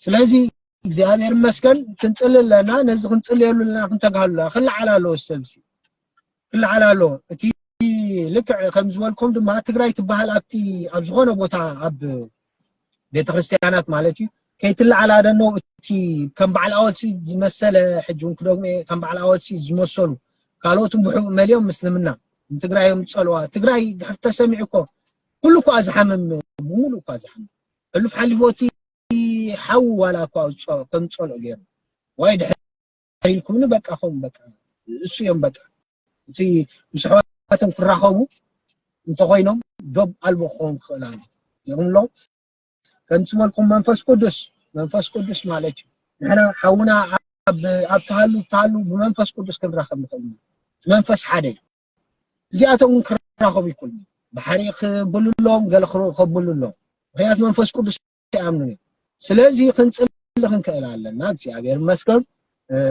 ስለዚ እግዚኣብሔር ይመስገን ክንፅሊ ኣለና ነዚ ክንፅልየሉ ኣለና ክንተግሃሉ ኣለና ክለዓል ኣለዎ ሰብዚ ክለዓል ኣለዎ እቲ ልክዕ ከም ዝበልኩም ድማ ትግራይ ትበሃል ኣብቲ ኣብ ዝኾነ ቦታ ኣብ ቤተክርስትያናት ማለት እዩ ከይትለዓል ኣደኖ እቲ ከም በዓል ኣወልሲ ዝመሰለ ሕጂ እውን ክደግሞ እየ ከም በዓል ኣወልሲ ዝመሰሉ ካልኦትን ብሕቡእ መሊኦም ምስልምና ንትግራይ እዮም ዝፀልዋ ትግራይ ድሕር ተሰሚዑ እኮ ኩሉ እኳ ዝሓምም ብምሉእ እኳ ዝሓምም ሕሉፍ ሓሊፎ እቲ ሓዊ ዋላ እኳ ከም ዝፀልኦ ገይሩ ዋይ ድሕር ኢልኩምኒ በቃ ኹም በቃ እሱ እዮም በቃ እቲ ምስ ኣሕዋቶም ክራኸቡ እንተኾይኖም ዶብ ኣልቦ ክኸውን ክኽእል ኣሎ ይኹም ኣሎ ከምቲ ዝበልኩም መንፈስ ቅዱስ መንፈስ ቅዱስ ማለት እዩ ንሕና ሓውና ኣብ ተሃሉ ተሃሉ ብመንፈስ ቅዱስ ክንራኸብ ንኽእል ኢና መንፈስ ሓደ እዩ እዚኣቶም እውን ክራኸቡ ይክእሉ ባሕሪ ክብልሎም ገለ ከብልሎም ምክንያቱ መንፈስ ቅዱስ ኣይኣምኑን እዮም ስለዚ ክንፅሊ ክንክእል ኣለና እግዚኣብሔር ይመስገን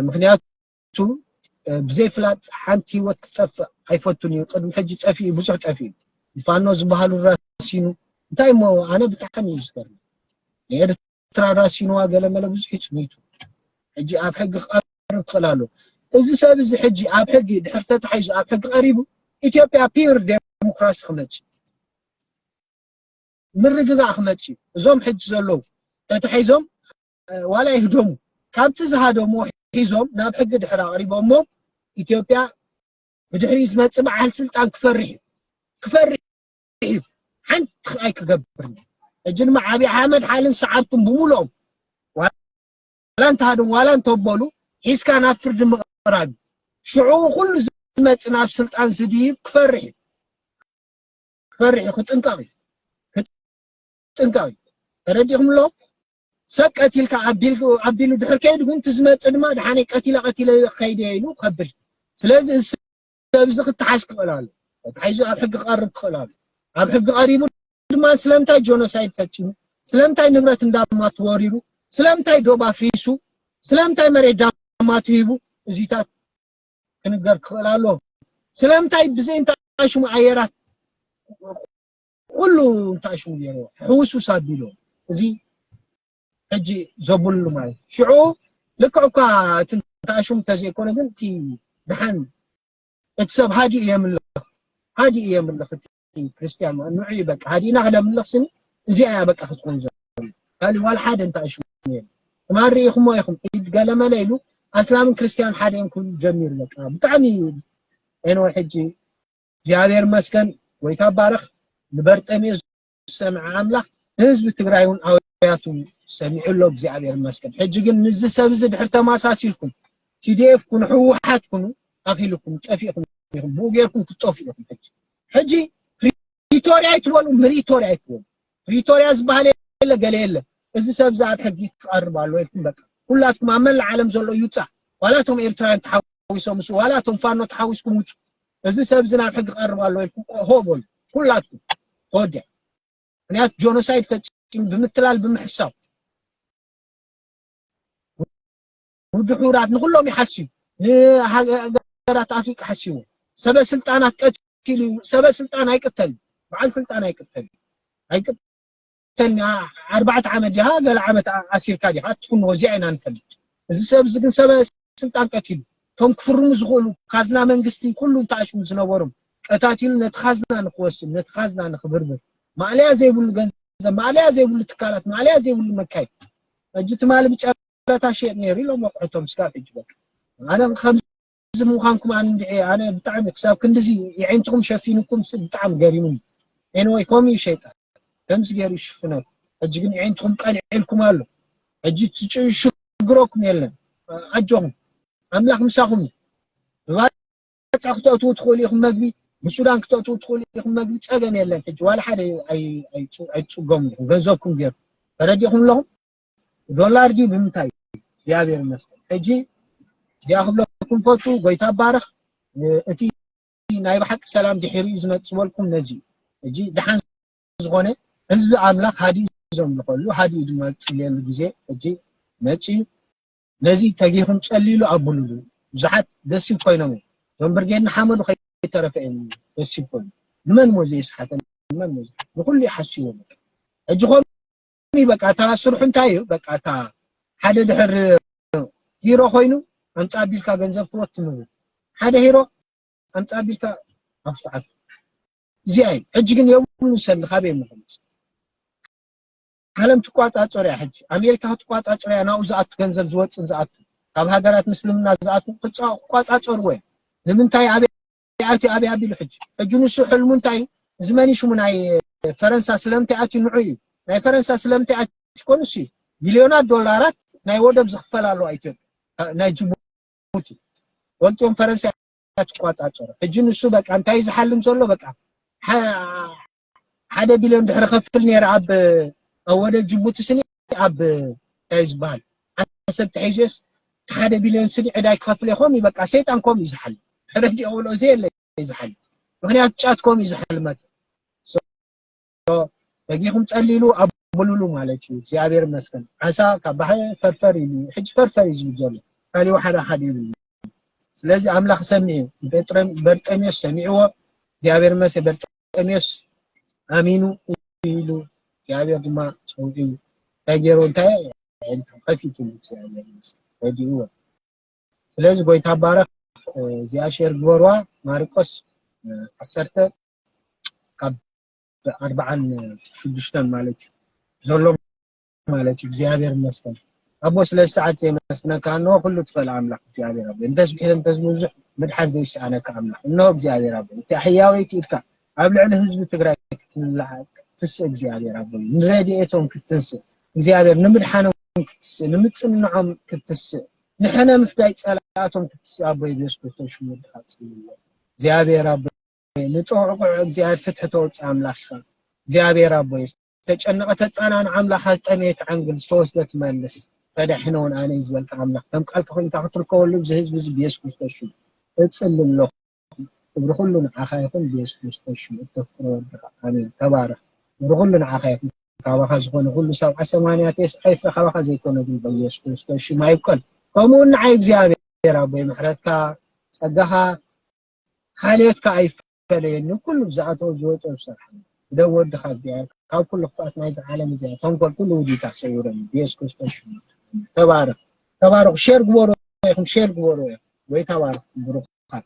ምክንያቱ ብዘይፍላጥ ሓንቲ ህይወት ክትጠፍእ ኣይፈቱን እዩ ቅድሚ ሕጂ ጠፊኡ ብዙሕ ጠፊኡ ፋኖ ዝበሃሉ ራሲኑ እንታይ እሞ ኣነ ብጣዕሚ እዩ ዝገርም ንኤርትራ ራሲንዋ ገለመለ ብዙሕ ይፅሚቱ ሕጂ ኣብ ሕጊ ክቐርብ ክኽእል ኣሎ እዚ ሰብ እዚ ሕጂ ኣብ ሕጊ ድሕር ተታሒዙ ኣብ ሕጊ ቀሪቡ ኢትዮጵያ ፒር ዴሞክራሲ ክመፅእ ምርግጋእ ክመጽእ እዩ እዞም ሕጂ ዘለዉ ተታሒዞም ዋላ ይህደሙ ካብቲ ዝሃደሙ ሒዞም ናብ ሕጊ ድሕር ኣቕሪቦሞ ኢትዮጵያ ብድሕሪ ዝመጽእ በዓል ስልጣን ክፈርሕ እዩ ክፈርሕ እዩ ሓንቲ ክኣይ ክገብር ሕጂ ድማ ዓብዪ ኣሕመድ ሓልን ሰዓብቱን ብምሉኦም ዋላ እንተሃደሙ ዋላ እንተበሉ ሒዝካ ናብ ፍርዲ ምቕራብ ሽዑ ኩሉ ዝመጽእ ናብ ስልጣን ዝድይብ ክፈርሕ እዩ ክፈርሕ እዩ ክጥንቀቕ እዩ ክጥንቀቕ እዩ ተረዲእኹም ኣሎ ሰብ ቀቲልካ ኣቢሉ ድሕር ከይዱ ግን እቲ ዝመፅእ ድማ ድሓነይ ቀቲለ ቀቲለ ከይደ ኢሉ ከብል ስለዚ እዚ ሰብ እዚ ክተሓዝ ክኽእል ኣሎ ተታሒዙ ኣብ ሕጊ ክቐርብ ክኽእል ኣሎ ኣብ ሕጊ ቀሪቡ ድማ ስለምንታይ ጆኖሳይድ ፈፂሙ ስለምንታይ ንብረት እንዳማቱ ወሪሩ ስለምንታይ ዶብ ኣፍሪሱ ስለምንታይ መሬት ዳማቱ ሂቡ እዚታት ክንገር ክኽእል ኣለዎ ስለምንታይ ብዘይ እንታይ ሽሙ ኣየራት ኩሉ እንታይ ሽሙ ገይሩ ሕውስውስ ኣቢሉ እዚ ሕጂ ዘብሉ ማለት ሽዑ ልክዕ እኳ እቲ እንታይ ሽሙ እንተዘይኮነ ግን እቲ ድሓን እቲ ሰብ ሃዲኡ የምልኽ ሃዲኡ የምልኽ እቲ ክርስትያን ማለት ንዑ እዩ በቃ ሃዲእና ክነምልኽ ስኒ እዚኣ እያ በቃ ክትኮን ዘሎ ካልእ ዋላ ሓደ እንታይ ሽሙ የለ ትማን ርኢኹሞ ኢኹም ኢድ ገለመለ ኢሉ ኣስላምን ክርስትያን ሓደ እዮም ክብሉ ጀሚሩ በቃ ብጣዕሚ ኤንወ ሕጂ እግዚኣብሔር መስገን ወይታ ባረኽ ንበርጠሜዎስ ዝሰምዐ ኣምላኽ ንህዝቢ ትግራይ እውን ኣውያቱ ሰሚዑ ኣሎ እግዚኣብሔር መስገን ሕጂ ግን ንዚ ሰብ እዚ ድሕር ተማሳሲልኩም ቲዲኤፍ ኩኑ ሕወሓት ኩኑ ኣኺልኩም ጠፊእኹም ኢኹም ብኡ ጌርኩም ክትጠፍኡ ኢኹም ሕጂ ሕጂ ፕሪቶርያ ኣይትበሉ ምሪቶርያ ኣይትበሉ ፕሪቶርያ ዝበሃል የለ ገለ የለ እዚ ሰብ እዚ ኣብ ሕጊ ክቐርብ ኣሎ ኢልኩም በቃ ኩላትኩም ኣብ መላእ ዓለም ዘሎ ይውፃእ ዋላ እቶም ኤርትራውያን ተሓዊሶም ምስ ዋላ እቶም ፋኖ ተሓዊስኩም ውፁ እዚ ሰብ እዚ ናብ ሕጊ ክቐርብ ኣሎ ኢልኩም ሆ በሉ ኩላትኩም ተወዲያ ምክንያቱ ጆኖሳይድ ፈፂሙ ብምትላል ብምሕሳው ውድብ ሕቡራት ንኹሎም እዩ ሓስዩ ንሃገራት ኣፍሪቃ ሓስይዎ ሰበ ስልጣናት ቀቲሉ እዩ ሰበ ስልጣን ኣይቅተልን በዓል ስልጣን ኣይቅተልን ኣይቅተልን ኣርባዕተ ዓመት ዲኻ ገለ ዓመት ኣሲርካ ዲኻ እትፍንዎ እዚኣ ኢና ንፈልጥ እዚ ሰብ እዚ ግን ሰበ ስልጣን ቀቲሉ እቶም ክፍርሙ ዝኽእሉ ካዝና መንግስቲ ኩሉ ተኣሽሙ ዝነበሮም ቀታቲሉ ነቲ ካዝና ንክወስድ ነቲ ካዝና ንክብርብር ማእለያ ዘይብሉ ገንዘብ ማእለያ ዘይብሉ ትካላት ማእለያ ዘይብሉ መካይድ ሕጂ ትማሊ ብጨ ብረታ ሸየጥ ነይሩ ኢሎም ወቅዕቶም ስካብ ሕጂ በቃ ኣነ ከምዚ ምዃንኩም ኣነ እንድዒ ኣነ ብጣዕሚ ክሳብ ክንድዚ የዒንትኹም ሸፊኑኩም ብጣዕሚ ገሪሙኒ ኤንወይ ከምኡ እዩ ሸይጣን ከምዚ ገይሩ ይሽፍነኩም ሕጂ ግን የዒንትኹም ቀልዒልኩም ኣሎ ሕጂ ትሽግረኩም የለን ኣጆኹም ኣምላኽ ምሳኹም እዩ ብባፃ ክተእትዉ ትኽእሉ ኢኹም መግቢ ብሱዳን ክተእትዉ ትኽእሉ ኢኹም መግቢ ፀገም የለን ሕጂ ዋላ ሓደ ኣይትፅገሙ ኢኹም ገንዘብኩም ገይሩ ተረዲኹም ኣለኹም ዶላር ድዩ ብምንታይ እግዚኣብሔር ይመስገን ሕጂ እዚኣ ክብለኩም ፈቱ ጎይታ ባርኽ እቲ ናይ ብሓቂ ሰላም ድሒሩ እዩ ዝመጽእ ዝበልኩም ነዚ ሕጂ ድሓን ዝኾነ ህዝቢ ኣምላኽ ሃዲኡ ዘምልኸሉ ሃዲኡ ድማ ዝጽልየሉ ግዜ ሕጂ መጺኡ ነዚ ተጊኹም ጸልይሉ ኣብሉሉ ብዙሓት ደሲብ ኮይኖም እዮም እዞም ብርጌድ ንሓመዱ ከይተረፈ እዮም ደሲብ ኮይኑ ንመን ሞ ዘየስሓተ ንመን ሞ ንኹሉ ይሓስዎ ሕጂ ኮም እዩ በቃ እታ ስርሑ እንታይ እዩ በቃ እታ ሓደ ድሕር ሂሮ ኮይኑ ኣምፃ ቢልካ ገንዘብ ክወት ትምሉ ሓደ ሂሮ ኣምፃ ቢልካ ኣፍት ዓፍ እዚኣ እዩ ሕጂ ግን የብሉ ሰሊ ካበይ ምክምፅ ዓለም ትቋፃፀር እያ ሕጂ ኣሜሪካ ክትቋፃፀር እያ ናብኡ ዝኣቱ ገንዘብ ዝወፅን ዝኣቱ ካብ ሃገራት ምስልምና ዝኣቱ ክቋፃፀርዎ እያ ንምንታይ ኣበ እንታይ ኣትዩ ኣብይ ኣቢሉ ሕጂ ሕጂ ንሱ ሕልሙ እንታይ እዩ እዚ መን ሽሙ ናይ ፈረንሳ ስለምንታይ ኣትዩ ንዑ እዩ ናይ ፈረንሳ ስለምንታይ ኣትዩ ኮን ንሱ እዩ ሚልዮናት ዶላራት ናይ ወደብ ዝኽፈል ኣለዋ ኢትዮጵያ ናይ ጅቡቲ ወልጥዮም ፈረንሳ ትቋጻጸሮ ሕጂ ንሱ በቃ እንታይ ዝሓልም ዘሎ በቃ ሓደ ቢልዮን ድሕሪ ከፍል ነይረ ኣብ ወደ ጅቡቲ ስኒ ኣብ እንታይ ዝበሃል ዓሰብ ተሒዙስ ሓደ ቢልዮን ስኒ ዕዳይ ክኸፍል ይኾም ይበቃ ሰይጣን ኮም እዩ ዝሓል ሕረጅ የውሎ እዚ የለ ዝሓል ምክንያቱ ጫት ኮም እዩ ዝሓልመት በጊኹም ጸሊሉ ኣብ ሙሉሉ ማለት እዩ እግዚኣብሔር ይመስገን ዓሳ ካብ ባሕሪ ፈርፈር ኢሉ ሕጂ ፈርፈር እዩ ዝብል ዘሎ ካሊኡ ሓደ ሓደ ይብል ስለዚ ኣምላኽ ሰሚዑ በርጠሚዮስ ሰሚዕዎ እግዚኣብሔር ይመስገን በርጠሜዎስ ኣሚኑ ኢሉ እግዚኣብሔር ድማ ጸውዒ እንታይ ገይሩ እንታይ ኣዒንቱ ከፊትሉ እግዚኣብሔር ይመስገን ረዲእዎ ስለዚ ጎይታ ባረኽ እዚኣ ሼር ግበርዋ ማርቆስ ዓሰርተ ካብ ኣርባዓን ሽዱሽተን ማለት እዩ ዘሎ ማለት እዩ እግዚኣብሔር ይመስገን ኣቦ ስለ ሰዓት የመስግነካ እንሆ ኩሉ ትኽእል ኣምላኽ እግዚኣብሔር ኣቦ እንተስ ብሒል እንተስ ብዙሕ ምድሓን ዘይሰኣነካ ኣምላኽ እንሆ እግዚኣብሔር ኣቦ እቲ ሕያወይቲ ኢድካ ኣብ ልዕሊ ህዝቢ ትግራይ ክትስእ እግዚኣብሔር ኣቦ ንረድኤቶም ክትስእ እግዚኣብሔር ንምድሓኖም ክትስእ ንምፅንዖም ክትስእ ንሕነ ምፍዳይ ፀላእቶም ክትስእ ኣቦ ኢየሱስ ክርስቶስ ሽሙ ድኻ ፅልዎ እግዚኣብሔር ኣቦ ንጥቕቑዕ እግዚኣብሔር ፍትሒ ተወፅእ ኣምላኽ ኢኻ እግዚኣብሔር ኣቦ ተጨነቐ ተጻንኣ ንኣምላኻ ዝጠመየት ዓንግል ዝተወስደ ትመልስ ተዳሒነ ውን ኣነ እዩ ዝበልካ ኣምላኽ ከም ቃልካ ኮይኑ እታ ክትርከበሉ እዚ ህዝቢ እዚ ብየሱስ ክርስቶስ ሽም እጽሊ ኣለኹ ክብሪ ኩሉ ንዓኻ ይኹን ብየሱስ ክርስቶስ ሽም እተፍቅሮ ወድኻ ኣሜን ተባረኽ ክብሪ ኩሉ ንዓኻ ይኹን ካባኻ ዝኾነ ኩሉ ሰብዓ ሰማንያ ቴስዓ ይፍረ ካባኻ ዘይኮነ ግን በየሱስ ክርስቶስ ሽም ኣይብቀል ከምኡ ንዓይ እግዚኣብሔር ኣቦይ ምሕረትካ ጸጋኻ ሓልዮትካ ኣይፈለየኒ ኩሉ ዝኣተዎ ዝወጾ ዝሰርሓ ደው ወድኻ እግዚኣብሔር ካብ ኩሉ ክፍኣት ናይዚ ዓለም እዚኣ ተንኮል ኩሉ ውዲታ ሰውረኒ ብየሱስ ክርስቶስ ሽሙ ተባረኽ ተባረኹ ሼር ግበሩ ኢኹም ሼር ግበሩ ኢኹም ወይ ተባረኹ ብሩኻት